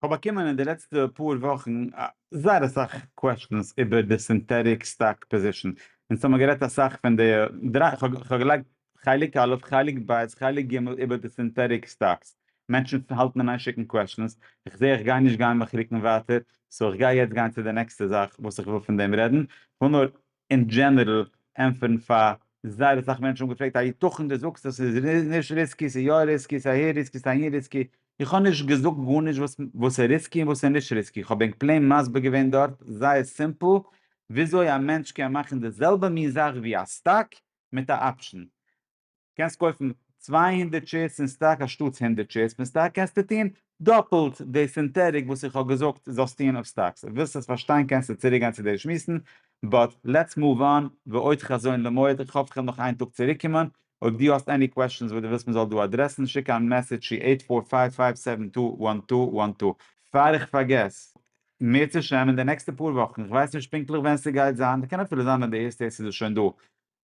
כ'האב באקומען אין די לעצטע פאר וואכן זייער אסאך קוועשטענס איבער די סינטעטיק סטאק פאזישן, אונז האמיר גערעדט אסאך פון די דריי, כ'האב געלייגט חלק א', חלק ב', חלק ג' איבער די סינטעטיק סטאקס, מענטשן האלטן און איין שיקן קוועשטענס, כ'זעה איך גיי נישט גיין מיך רוקן ווייטער, סאו כ'גיי יעצט גיין צו די נעקסטע זאך וואס איך וויל פון דעם רעדן, כ'וויל נאר אין דזשענערל ענטפערן פאר זייער אסאך מענטשן האבן געפרעגט היתכן דו זאגסט אז ס'איז נישט ריסקי, ס'איז יא ריסקי, ס'איז אהער ריסקי, ס'איז אהין ריסקי, איך האב נישט געזאגט גארנישט וואס איז ריסקי און וואס איז נישט ריסקי, איך האב ענק פלעין מסביר געווען דארט זייער סימפל וויאזוי א מענטש קען מאכן די זעלבע מין זאך ווי א סטאק מיט א אפשן, קענסט קויפן צוויי הונדערט שעירס אין סטאק אנשטאטס הונדערט שעירס פון סטאק קענסטו טון דאפלט די סינטעטיק וואס איך האב געזאגט זאלסט טון אויף סטאקס אויב ווילסט עס פארשטיין קענסטו צוריק גיין צו די שמועסן באט לעטס מאוו אן ועוד חזון למועד איך האף איך וועל נאך איין טאג צוריק קומען אויב דו האסט עני קוועשאנס וואס דו ווילסט מען זאל דא אדרעסן שיק א מעסעדזש צו עיט פאר פייוו פייוו סעווען טו וואן טו וואן טו. פאר איך פארגעס. מערצעשעם אין די נעקסטע פאר וואכן, איך ווייס נישט פונקטליך ווען ס'גייט זיין, קען אפילו זיין אז די ערשטע איז עס שוין דא,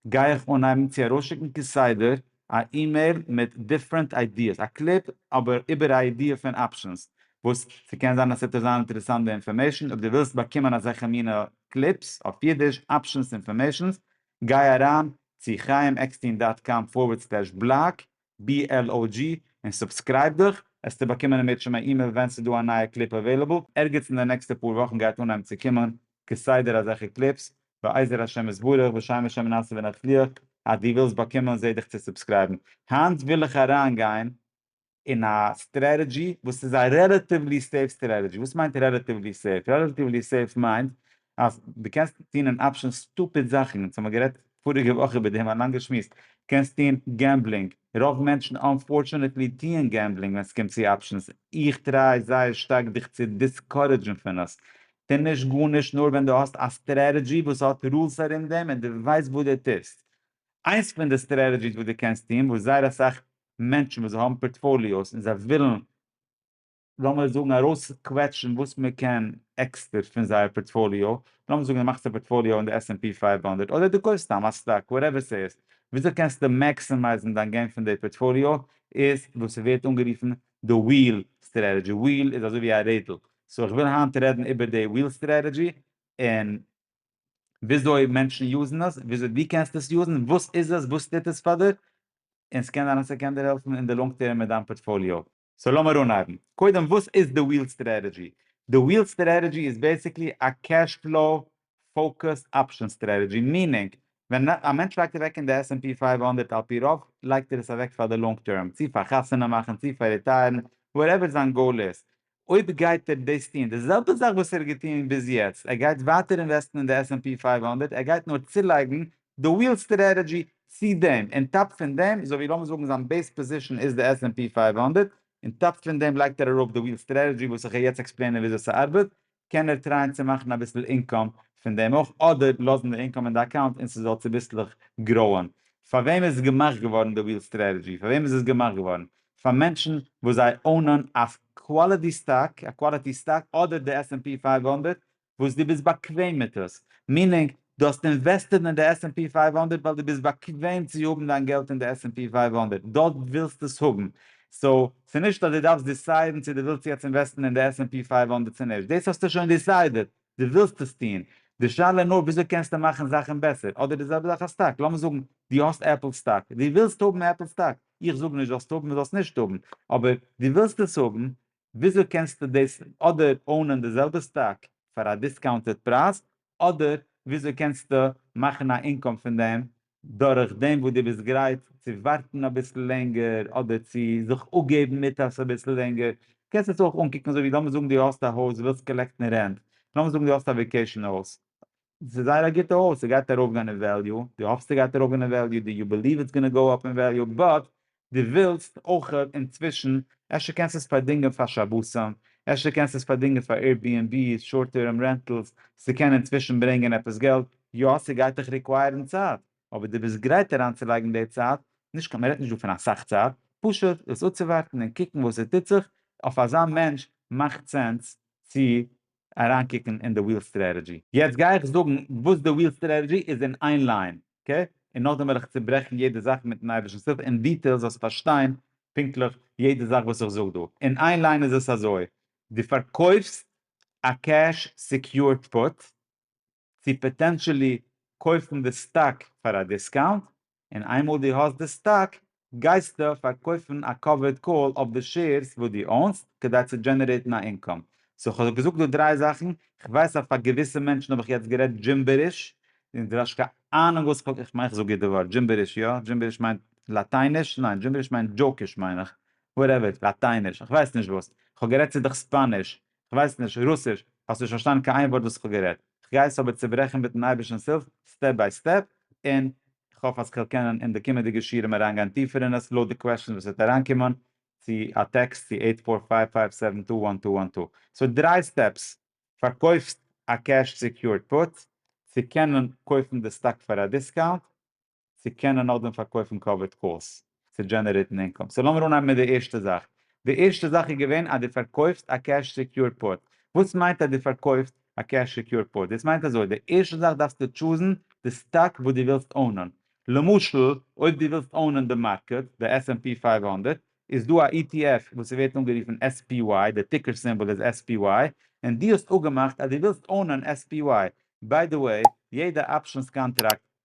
גיי איך אנהייבן צו ארויסשיקן כסדר א אימעיל מיט דיפרענט איידיעס, א קליפ אבער איבער א איידיע פון אפשענס, וואס ס'קען זיין אז ס'וועט דיר זיין אינטערעסאנט די אינפארמעישן, אויב דו ווילסט באקומען אזעלכע מינע קליפס, אויף אידיש, אפשענס אינפארמעישנס, גיי אריין צו חייםעקסטין דאט קאם פארווערד סלעש בלאג, BLOG, און סובסקרייב דיך, עסטו באקומען אינמיט שום א אימעיל ווען ס'איז דא א נייע קליפ אוועילעבל, ערגעץ אין די נעקסטע פאר וואכן גייט אנהייבן צו קומען כסדר אזעלכע קליפס, בעזר השם יתברך בשם השם נעשה ונצליח, אז דו ווילסט באקומען זע דיך צו סובסקרייבן. היינט וויל איך אריין גיין אין א סטרעטעדזשי וואס איז א רעלאטיוולי סעיף סטרעטעדזשי, וואס מיינט רעלאטיוולי סעיף? רעלאטיוולי סעיף מיינט אז דו קענסט טון אין אפשען סטופיד זאכן, אונז האמיר גערעדט פאריגע וואך איבער דעם, א לאנגע שמועס, קענסט טון געמבלינג, רוב מענטשן אנפארטשענעטלי טוען געמבלינג ווען סקומט צו אפשענס, איך טריי זייער שטארק דיך צו דיסקארעדזשן פון עס, טו נישט גארנישט נאר ווען דו האסט א סטרעטעדזשי וואס האט רולס ארום דעם און דו ווייסט וואס דו טוסט. איינס פון די סטרעטעדזשיס וואס דו קענסט טון, וואס זייער אסאך מענטשן וואס זיי האבן פארטפאליאוס און זיי ווילן, לאמיר זאגן ארויסקוועטשן וואס מען קען עקסטער פון זייער פארטפאליאו, לאמיר זאגן די מאכסט א פארטפאליאו אין די עס ענד פי פֿינף הונדערט אדער די קויפסט סתם א סטאק וואטעווער סאיז, וויאזוי קענסטו מעקסימייזן דיין געים פון די פארטפאליאו איז וואס סווערט אנגערופן די וויל סטרעטעדזשי, וויל איז אזוי ווי א רעדל, סאו איך וויל היינט רעדן איבער די וויל סטרעטעדזשי און וויאזוי מענטשן יוזן עס, וויאזוי דו קענסט עס יוזן, וואס איז עס, וואס טוט עס פאר דיר, און סקען זיין אז סקען דיר העלפן אין די לאנג טערם מיט דיין פארטפאליאו. סאו לאמיר אנהייבן. קודם וואס איז די וויל סטרעטעדזשי? די וויל סטרעטעדזשי איז בעסיקלי א קעש פלאו פאוקוסד אפשען סטרעטעדזשי, מיענינג ווען א מענטש לייגט אוועק אין די עס ענד פי פֿינף הונדערט על פי רוב לייגט ער עס אוועק פאר די לאנג טערם, צו פאר חתונה מאכן, צו פאר ריטייערן, וואטעווער זיין גאול איז, אויב גייט ער דאס טון, די זעלבע זאך וואס ער האט געטון ביז יעצט, ער גייט ווייטער אינוועסטן אין די עס ענד פי פֿינף הונדערט, ער גייט נאר צולייגן די וויל סטרעטעדזשי צי דעם, און טאפ פון דעם, אזוי ווי לאמיר זאגן זיין בעיס פאזישן איז די עס ענד פי פֿינף הונדערט, און טאפ פון דעם לייגט ער אראפ די וויל סטרעטעדזשי וואס איך גיי יעצט עקספלעינען וויאזוי ס'ארבעט, קען ער טרייען צו מאכן אביסל אינקאם פון דעם אויך, אדער לאזן די אינקאם אין די אקאונט און ס'זאל צוביסלעך גראוען. פאר וועם איז געמאכט געווארן די וויל סטרעטעדזשי? פאר וועם איז עס געמאכט געווארן? פאר מענטשן וואס זיי אונען א קוואליטי סטאק, א קוואליטי סטאק, אדער די עס ענד פי פֿינף הונדערט, וואס דו ביסט באקוועם מיט עס, מיענינג דו האסט אינוועסטעד אין די עס ענד פי פֿינף הונדערט ווייל דו ביסט באקוועם צו האבן דיין געלט אין די עס ענד פי פֿינף הונדערט, דארט ווילסטו עס האבן, סאו ס'איז נישט אז דו דארפסט דיסיידן צו דו ווילסט יעצט אינוועסטן אין די עס ענד פי פֿינף הונדערט צו נישט, דאס האסטו שוין דיסיידעד, דו ווילסט עס טון, די שאלה איז נאר וויאזוי קענסטו מאכן זאכן בעסער, אדער די זעלבע זאך א סטאק, לאמיר זאגן דו האסט עפל סטאק, דו ווילסט האבן עפל סטאק, איך זאג נישט זאלסט האבן און זאלסט נישט האבן, אבער דו ווילסט עס האבן, וויאזוי קענסטו דאס אדער אונען די זעלבע סטאק פאר א דיסקאונטעד פרייז אדער וויאזוי קענסטו מאכן א אינקאם פון דעם דורך דעם וואס דו ביסט גרייט צו ווארטן אביסל לענגער אדער צו זיך אפגעבן מיט עס אביסל לענגער קענסט עס אויך אנקוקן אזויווי לאמיר זאגן דו האסט א הויז ווילסט קאלעקטן רענט לאמיר זאגן דו האסט א וועקעישאן הויז ס'איז זייער א גוטע הויז, ס'גייט ארויפגיין אין וועליו, דו האפסט ס'גייט ארויפגיין אין וועליו, דו יו בעליוו איטס גאנא גאו אפ אין וועליו, באט דו ווילסט אויך אינצווישן, אפשר קענסט עס פארדינגען פאר שבתים, אפשר קענסט עס פארדינגען פאר עיר בי ענד בי'ס, שארט טערם רענטלס, ס'קען אינצווישן ברענגען עפעס געלט, יא ס'גייט דיך ריקווייערן צייט, אבער דו ביסט גרייט אריינצולייגן די צייט, נישט קיין, מ'רעדט נישט דא פון אסאך צייט, פשוט עס אפצואווארטן און קוקן וואס עס טוט זיך, אויף אזא מענטש מאכט סענס צו אריינקוקן אין די וויל סטרעטעדזשי. יעצט גיי איך זאגן וואס די וויל סטרעטעדזשי איז אין איין ליין, אקעי? און נאכדעם וועל איך צוברעכן יעדע זאך מיטן אייבערשטנ'ס הילף אין דיטעיל זאלסט פארשטיין פונקטליך יעדע זאך וואס איך זאג דא. אין איין ליין איז עס אזוי, דו פארקויפסט א קעש סעקיורד פוט, צו פאטענטשעלי קויפן די סטאק פאר א דיסקאונט, און איינמאל דו האסט די סטאק גייסטו פארקויפן א קאווערד קאל אויף די שעירס וואס דו אונסט כדי צו דזשענערעיטן א אינקאם. סאו כ'האב געזאגט דא דריי זאכן, כ'ווייס אז פאר געוויסע מענטשן האב איך יעצט גערעדט דזשימבעריש, און דו האסט קיין אהנונג וואס כ'האב, כ'מיין כ'זאג גוט די ווארט, דזשימבעריש יא? דזשימבעריש מיינט לאטייניש? ניין דזשימבעריש מיינט דזשאוקיש מיין איך, וואטעווער, לאטייניש, כ'ווייס נישט וואס, כ'האב גערעדט צו דיך ספאניש, כ'ווייס נישט רוסיש, האסט נישט פארשטאנען קיין איין ווארט וואס כ'האב גערעדט, כ'גיי עס אבער צוברעכן מיטן אייבערשטנ'ס הילף סטעפ ביי סטעפ, און כ'האף אז כ'וועל קענען אין די קומענדיגע שיעורים אריינגיין טיפער אין עס לויט די קוועשאנס וואס וועט אריינקומען צו א טעקסט צו עיט פאר פייוו פייוו סעווען טו וואן טו וואן טו. ס'האט דריי סטעפס, פארקויפסט א קעש סעקיורד פוט, צו קענען קויפן די סטאק פאר א דיסקאונט, צו קענען נאכדעם פארקויפן קאווערד קאלס צו דזשענערעיטן אינקאם. סאו לאמיר אנהייבן מיט די ערשטע זאך. די ערשטע זאך איז געווען אז דו פארקויפסט א קעש סעקיורד פוט. וואס מיינט אז דו פארקויפסט א קעש סעקיורד פוט? דאס מיינט אזוי, די ערשטע זאך דארפסטו טשוזן די סטאק וואס דו ווילסט אונען. למשל, אויב דו ווילסט אונען די מארקעט, די עס ענד פי פֿינף הונדערט, איז דא א ETF וואס ס'ווערט אנגערופן SPY, די טיקער סימבאל איז SPY, און דו האסט אפגעמאכט אז דו ווילסט אונען SPY. ביי די וועי, יעדע אפשענס קאנטראקט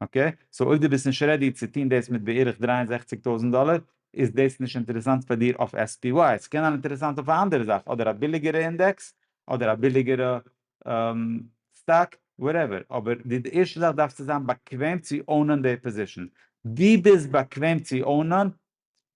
אקעי, סאו אויב דו ביסט נישט רעדי צו טון דאס מיט בערך דרײַ און זעכציק טויזנט דאלער, איז דאס נישט אינטערעסאנט פאר דיר אויף SPY, עס קען זיין אינטערעסאנט אויף א אנדערע זאך, אדער א ביליגערע אינדעקס, אדער א ביליגערע סטאק, וואטעווער, אבער די ערשטע זאך דארפסטו זיין באקוועם צו אונען די פאזישן, דו ביסט באקוועם צו אונען,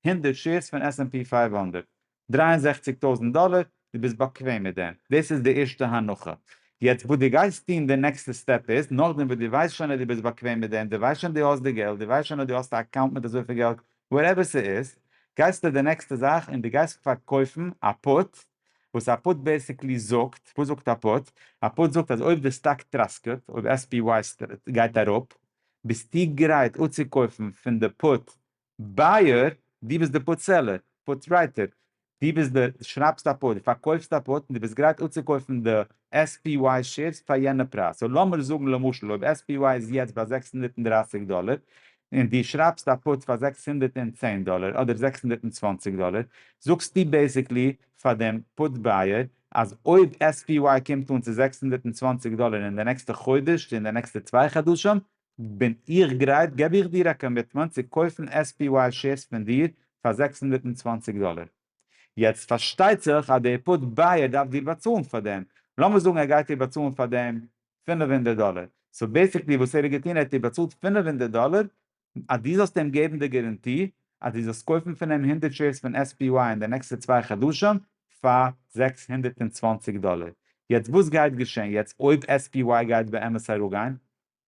הונדערט שעירס פון עס ענד פי פֿינף הונדערט דרײַ און זעכציק טויזנט דאלער, דו ביסט באקוועם מיט דעם, דאס איז די ערשטע הנחה, יעצט וואס דו גייסט טון די נעקסטע סטעפ איז, נאכדעם וואס דו ווייסט שוין אז דו ביסט באקוועם מיט דעם, דו ווייסט שוין דו האסט די געלט, דו ווייסט שוין אז דו האסט א אקאונט מיט אזויפיל געלט, וואטעווער ס'איז, גייסטו די נעקסטע זאך און דו גייסט פארקויפן א פוט, וואס א פוט בעסיקלי זאגט, וואס זאגט א פוט? א פוט זאגט אז אויב די סטאק טראסקעט, אויב SPY גייט אראפ, ביסטו גרייט אפצוקויפן פון די פוט בייער, דו ביסט דער פארצעלער, פארטרייטער, דו ביסט דער, דו שרייבסט א פארט, דו פארקויפסט א פארט און דו ביסט גרייט אפצוקויפן די SPY שעירס פאר יענע פרייז. סאו לאמיר זאגן למשל אויב SPY איז יעצט ביי זעקס הונדערט און דרײַסיק דאלער און דו שרייבסט א פארט פאר זעקס הונדערט און צען דאלער אדער זעקס הונדערט און צוואַנציק דאלער, זאגסטו בעיסיקלי פאר דעם פארט בייער אז אויב SPY קומט אן צו זעקס הונדערט און צוואַנציק דאלער אין די נעקסטע חודש צו אין די נעקסטע צוויי חדשים, בין איך גרייט געב איך דיר א קאמיטמענט צו קויפן SPY שעירס פון דיר פאר זעקס הונדערט און צוואַנציק דאלער. יעצט פארשטייט זיך אז דער פוט בייער דארף דיר באצאלן פאר דעם, לאמיר זאגן ער גייט דיר באצאלן פאר דעם פֿינף הונדערט דאלער, סאו בעסיקלי וואס ער האט געטון ער האט דיר באצאלט פֿינף הונדערט דאלער אז דו זאלסט אים געבן די גאראנטי אז דו זאלסט קויפן פון אים הונדערט שעירס פון SPY אין די נעקסטע צוויי חדשים פאר זעקס הונדערט און צוואַנציק דאלער. יעצט וואס גייט געשען יעצט אויב SPY גייט באמת אראפגיין?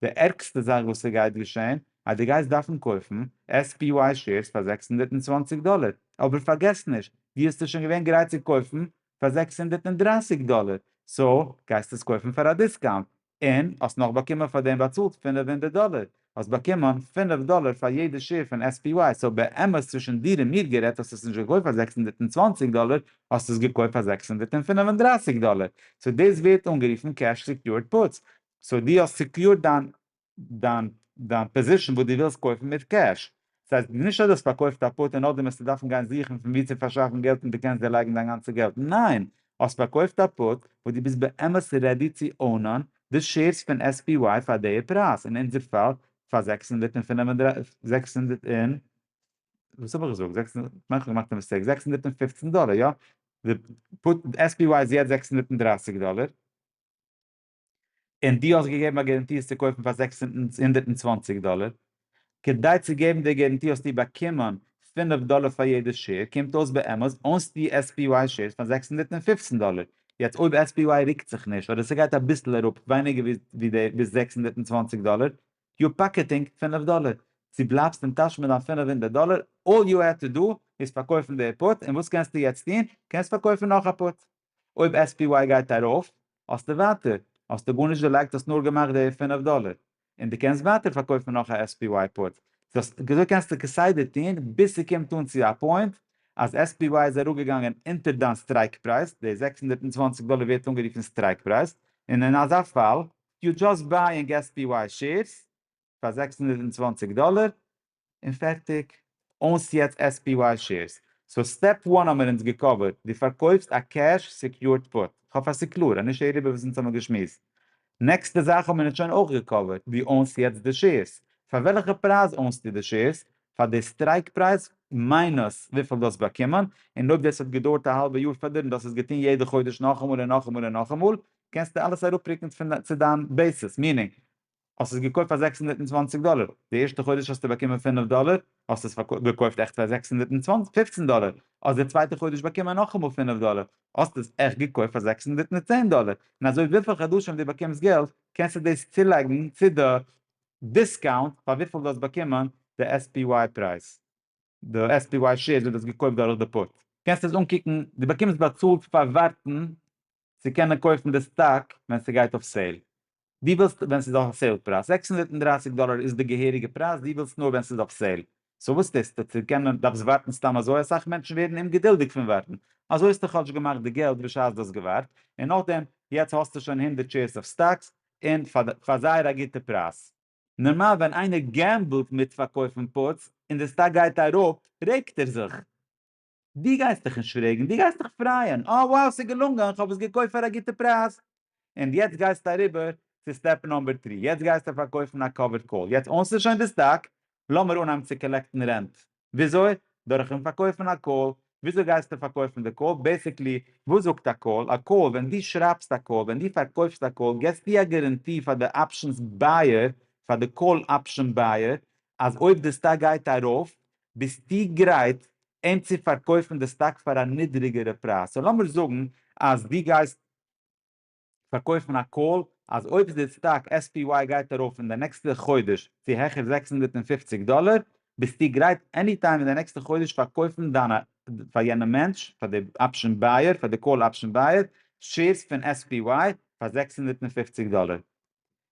די ערגסטע זאך וואס ס'גייט געשען אז דו גייסט דארפן קויפן SPY שעירס פאר זעקס הונדערט און צוואַנציק דאלער, אבער פארגעס נישט דו האסט עס שוין געווען גרייט צו קויפן פאר זעקס הונדערט און דרײַסיק דאלער, סאו גייסט עס קויפן פאר א דיסקאונט, און האסט נאך באקומען פאר דעם באצאלט פֿינף הונדערט דאלער, האסט באקומען פֿינף דאלער פאר יעדע שעיר פון SPY, סאו באמת צווישן דיר און מיר גערעדט האסט עס נישט געקויפט פאר זעקס הונדערט און צוואַנציק דאלער, האסט עס געקויפט פאר זעקס הונדערט און פֿינף און דרײַסיק דאלער, סאו דאס ווערט אנגערופן קעש סעקיורד פוטס, סאו דו האסט סעקיורד דיין דיין דיין פאזישן וואס דו ווילסט קויפן מיט קעש, דאס הייסט נישט אז דו האסט פארקויפט א פוט און נאכדעם וועסטו דארפן גיין זוכן פון וואו צו פארשאפן געלט און דו קענסט דערלייגן דיין גאנצע געלט, ניין! האסט פארקויפט א פוט וואס דו ביסט באמת רעדי צו אונען די שעירס פון SPY פאר די פרייז, אין אונזער פאל פאר זעקס הונדערט און פֿינף און דרײַסיק זעקס הונדערט און וואס האב איך געזאגט זעקס הונדערט כ'מיין כ'האב געמאכט א מיסטעיק זעקס הונדערט און פֿופֿצן דאלער יא? די פוט SPY איז יעצט זעקס הונדערט און דרײַסיק דאלער. און דו האסט געגעבן א גערענטי עס צו קויפן פאר זעקס הונדערט און צוואַנציק דאלער, כדי צו געבן די גערענטי האסטו באקומען פֿינף דאלער פאר יעדע שעיר, קומט אויס באמת אונסט די SPY שעירס פאר זעקס הונדערט און פֿופֿצן דאלער, יעצט אויב SPY רוקט זיך נישט אדער ס'גייט אביסל אראפ ווייניגער ווי די ביז זעקס הונדערט און צוואַנציק דאלער, יו פאקעטינג פֿינף דאלער, דו בלייבסט אין טאש מיט דיין פֿינף הונדערט דאלער, אלל יו העד טו דא איז פארקויפן די פוט, און וואס קענסטו יעצט טון? קענסט פארקויפן נאך א פוט. אויב SPY גייט ארויף, האסטו ווייטער, האסטו גארנישט דערלייגט האסט נאר געמאכט די פֿינף דאלער, און די קענסט ווייטער פארקויפן נאך א SPY פוט, סאו אזוי קענסטו כסדר טוהן ביז ס'קומט אן צו א פוינט אז SPY איז אראפגעגאנגען אונטער דיין סטרייק פרייז, די זעקס הונדערט און צוואַנציק דאלער ווערט אנגערופן סטרייק פרייז, און אין אזא פאל יו דזשאסט בייאינג SPY שעירס פאר זעקס הונדערט און צוואַנציק דאלער, און פערטיג. אונז יעצט עס פי וואי שעירס. סאו סטעפ וואן האמער אונז געקאווערט, דו פארקויפסט א קעש סעקיורד פוט, כ'האף אז ס'קלאר, אז נישט הער איבער וואס אונז האמער געשמועסט. נעקסטע זאך האמער אונז שוין אויך געקאווערט, דו אונזט יעצט די שעירס. פאר וועלכע פרייז אונזטו די שעירס? פאר די סטרייק פרייז מיינוס וויפיל דו האסט באקומען, און אויב דאס האט געדויערט א האלבע יאר פאר דיר און דו האסט עס געטון יעדע חודש נאכאמאל און נאכאמאל און נאכאמאל, קענסטו אלעס אראפרוקן צו דיין בעיסיס, מיענינג, האסט עס געקויפט פאר זעקס הונדערט און צוואַנציק דאלער, די ערשטע חודש האסטו באקומען פינף דאלער, האסט עס געקויפט עכט פאר זעקס הונדערט און פופצן דאלער, האסט די צווייטע חודש באקומען נאכאמאל פינף דאלער, האסט עס עכט געקויפט פאר זעקס הונדערט און צען דאלער, און אזוי וויפיל חדשים דו באקומסט געלט קענסטו דאס צולייגן צו די דיסקאונט פאר וויפיל דו האסט באקומען די SPY פרייז, די SPY שעירס וואס דו האסט געקויפט דורך די פוט, קענסט עס אנקוקן, דו באקומסט באצאלט פאר ווארטן צו קענען קויפן די סטאק ווען ס'גייט אויף סעיל, דו ווילסט ווען ס'איז אויף סעיל פרייז, זעקס הונדערט און דרײַסיק דאלער איז די געהעריגע פרייז, דו ווילסט נאר ווען ס'איז אויף סעיל, סאו וואס טוסטו? צו קענען דארפסט ווארטן סתם אזוי? אסאך מענטשן ווערן אומגעדולדיג פון ווארטן, אזוי האסטו כאטש געמאכט די געלט בשעת דו האסט געווארט, און נאכדעם יעצט האסטו שוין הונדערט שעירס אויף סטאקס, און פאר זייער א גוטע פרייז. נארמאל ווען איינער געמבלט מיט פארקויפן פוטס און די סטאק גייט אראפ רעגט ער זיך, דו גייסט דיך נישט פרעגן, דו גייסט דיך פרייען, אוי wow ס'איז געלונגען, איך האב עס געקויפט פאר א גוטע פרייז. און יעצט גייסטו אריבער צו סטעפ נאמבער טרי, יעצט גייסטו פארקויפן א קאווערד קאל, יעצט אונסטו שוין די סטאק, לאמיר אנהייבן צו קאלעקטן רענט. וויאזוי? דורכ'ן פארקויפן א קאל. וויאזוי גייסטו פארקויפן די קאל? בעיסיקלי, וואס זאגט א קאל? א קאל, ווען דו שרייבסט א קאל, ווען דו פארקויפסט א קאל, געסטו א גאראנטי פאר די אפשענס בייער, פאר די קאל אפשען בייער, אז אויב די סטאק גייט ארויף ביסטו גרייט אים צו פארקויפן די סטאק פאר א נידריגערע פרייז, סאו לאמיר זאגן אז דו גייסט פארקויפן א קאל אז אויב די סטאק SPY גייט ארויף אין די נעקסטע חודש צו העכער זעקס הונדערט און פֿופֿציק דאלער ביסטו גרייט עני טיים אין די נעקסטע חודש פארקויפן דיינע פאר יענעם מענטש פאר די אפשען בייער פאר די קאל אפשען בייער שעירס פון SPY פאר זעקס הונדערט און פֿופֿציק דאלער.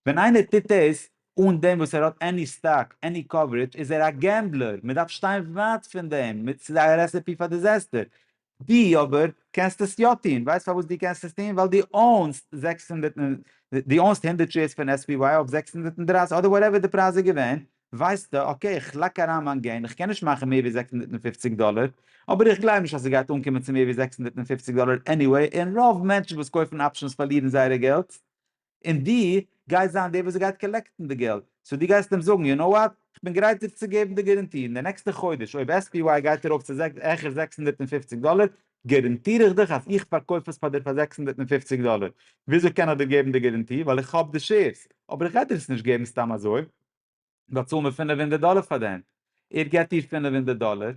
ווען איינער טוט דאס אן דעם וואס ער האט עני סטאק, עני קאווערעדזש, איז ער א געמבלער, מען דארף שטיין ווייט פון דעם, ס'איז א רעסעפי פאר דיזעסטער. דו אבער קענסט עס יא טון, ווייסט פארוואס דו קענסט עס טון? ווייל דו אונסט זעקס הונדערט און, דו אונסט הונדערט שעירס פון SPY אויף זעקס הונדערט און דרײַסיק אדער וואטעווער די פרייז איז געווען, ווייסטע, אקעי, איך לייג אריין מיין געים, איך קען נישט מאכן מער ווי זעקס הונדערט און פֿופֿציק דאלער, אבער איך גלייב נישט אז ס'גייט אנקומען צו מער ווי זעקס הונדערט און פֿופֿציק דאלער עניוועי, און רוב מענטשן וואס קויפן אפשענס פארלירן זייערע געלט. און דו גייסט זיין דער וואס גייט קאלעקטן די געלט, סאו דו גייסט אים זאגן, יו נאו וואט, איך בין גרייט דיר צו געבן די גאראנטי, אין די נעקסטע חודש אויב עס פי וויי גייט ארויף צו העכער זעקס הונדערט און פֿופֿציק דאלער, גאראנטיר איך דיך אז איך פארקויף עס פאר דיר פאר זעקס הונדערט און פֿופֿציק דאלער, וויאזוי קען איך דיר געבן די גאראנטי, ווייל איך האב די שעירס, אבער איך גיי דיר עס נישט געבן סתם אזוי. דארט צאלן מיר פינף הונדערט דאלער פאר דעם, ער געבט דיר פינף הונדערט דאלער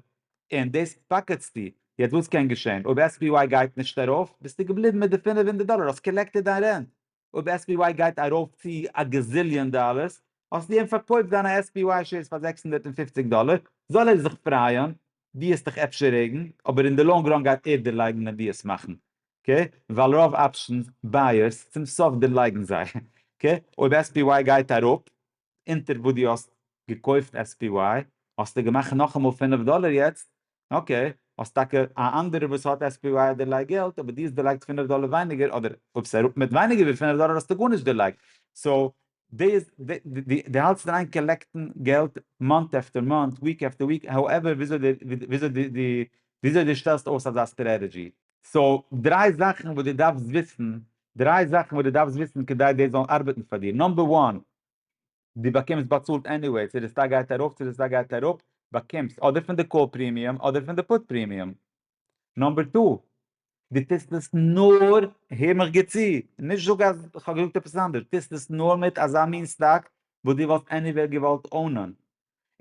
און דאס פאקעטסטו, יעצט וואס קען געשען, אויב עס פי וואי גייט נישט ארויף ביסטו געבליבן מיט די פינף הונדערט דאלער, האסט קאלעקטעד דיין רענט, אויב עס פי וואי גייט ארויף צו א געזיליאן דאלערס האסטו אים פארקויפט דיינע עס פי וואי שעירס פאר זעקס הונדערט און פופציג דאלער, זאל ער זיך פרייען, די העסט דיך אפשר רעגן אבער אין די לאנג ראן גייט ער דערלייגן ווען די עס מאכן אקעי ווייל רוב אפשען בייערס צום סוף דערלייגן זיי אקעי אויב SPY גייט אראפ אונטער וואס די האסט געקויפט SPY האסטו געמאכט נאכאמאל פֿינף דאלער יעצט אקעי האסט טאקע א אנדערער וואס האט SPY האט דערלייגט געלט אבער די האסט דערלייגט פֿינף דאלער ווייניגער אדער אויב סאיז אראפ מיט ווייניגער ווי פֿינף דאלער האסטו גארנישט דערלייגט סאו דעיס די האלטסט דיר איין קאלעקטן געלט מאנט עפטער מאנט וויק עפטער וויק האועווער וויאזוי די וויאזוי די די וויאזוי די שטעלסט אויס אזא סטרעטעדזשי. סאו דריי זאכן וואס די דארפסט וויסן דריי זאכן וואס די דארפסט וויסן כדי דאס זאל ארבעטן פאר דיר נאמבער וואן די באקומסט באצאלט עניוועי צו די סטאק גייט ארויף צו די סטאק גייט אראפ באקומסט אדער פון די קאל פרימיום אדער פון די פוט פרימיום נאמבער טו, דו טוסט עס נאר, הער מיך גוט צו, נישט זאג אז איך האב געזאגט עפעס אנדערש, טוסט עס נאר מיט אזא מין סטאק וואס דו וואלסט עניוועי געוואלט אונען,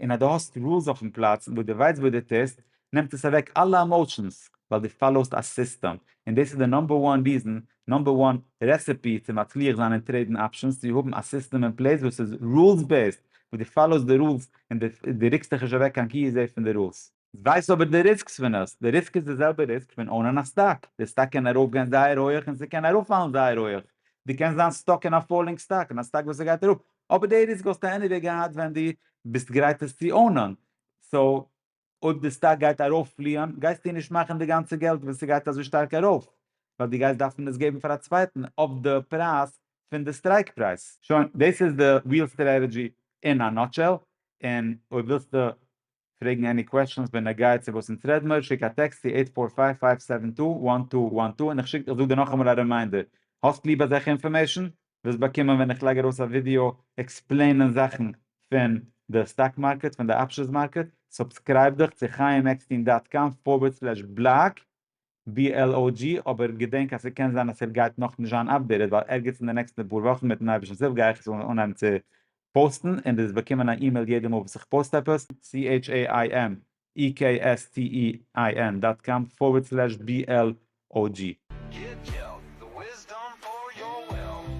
און אז דו האסט רולס אויפן פלאץ וואס דו ווייסט וואס דו טוסט, נעמט עס אוועק אלע עמאושענס, ווייל דו פאלאוסט א סיסטעם, און דאס איז די נאמבער וואן ריזען, נאמבער וואן רעסעפי צו מצליח זיין אין טרעידן אפשענס צו האבן א סיסטעם אין פלעיס וואס איז רולס בעיסד, וואס דו פאלאוסט די רולס און דו רוקסט דיך נישט אוועק קיין כהוא זה פון די רולס. ווייס אבער די ריסקס פון עס, די ריסק איז די זעלבע ריסק פון אונען א סטאק, די סטאק קען ארויפגיין זייער הויעך און ס'קען אראפפאלן זייער הויעך, דו קענסט זיין סטאק אין א פאללינג סטאק, אין א סטאק וואס ס'גייט אראפ, אבער די ריסק וואלסטו עניוועי געהאט ווען דו ביסט גרייט עס צו אונען, סאו אויב די סטאק גייט ארויפפליען גייסטו נישט מאכן די גאנצע געלט ווען ס'גייט אזוי שטארק ארויף, ווייל דו גייסט דארפן עס געבן פאר א צווייטן אויף די פרייז פון די סטרייק פרייז. שוין, דאס איז די ריעל סטרעטעדזשי אין א נאטשעל, און אויב ווילסטו פרעגן עני קוועשאנס בנוגע צו וואס אונז רעד מיר, שיק א טעקסט צו עיט פאר פייוו פייוו סעווען טו וואן טו וואן טו און איך שיק איך זאג דיר נאכאמאל א רימיינדער, האסט ליב אזעלכע אינפארמעישאן? וועסט באקומען ווען איך לייג ארויס א ווידיאו עקספלעינען זאכן פון די סטאק מארקעט פון די אפשענס מארקעט, סובסקרייב דיך צו חיים עקסטין דאט קאם פארווערד סלעש בלאג BLOG, אבער געדענק אז ס'קען זיין אז ער גייט נאכנישט זיין אפדעיטעד ווייל ערגעץ אין די נעקסטע פאר וואכן מיטן אייבערשטנ'ס הילף גיי איך עס אנהייבן צו פאוסטן און דו וועסט באקומען א אימעיל יעדע מאל וואס איך פאוסט עפעס. CHAIMEKSTEIN דאט קאם פארווערד סלעש BLOG. גיט געלט, די וויסדאם פאר יאר וועלט.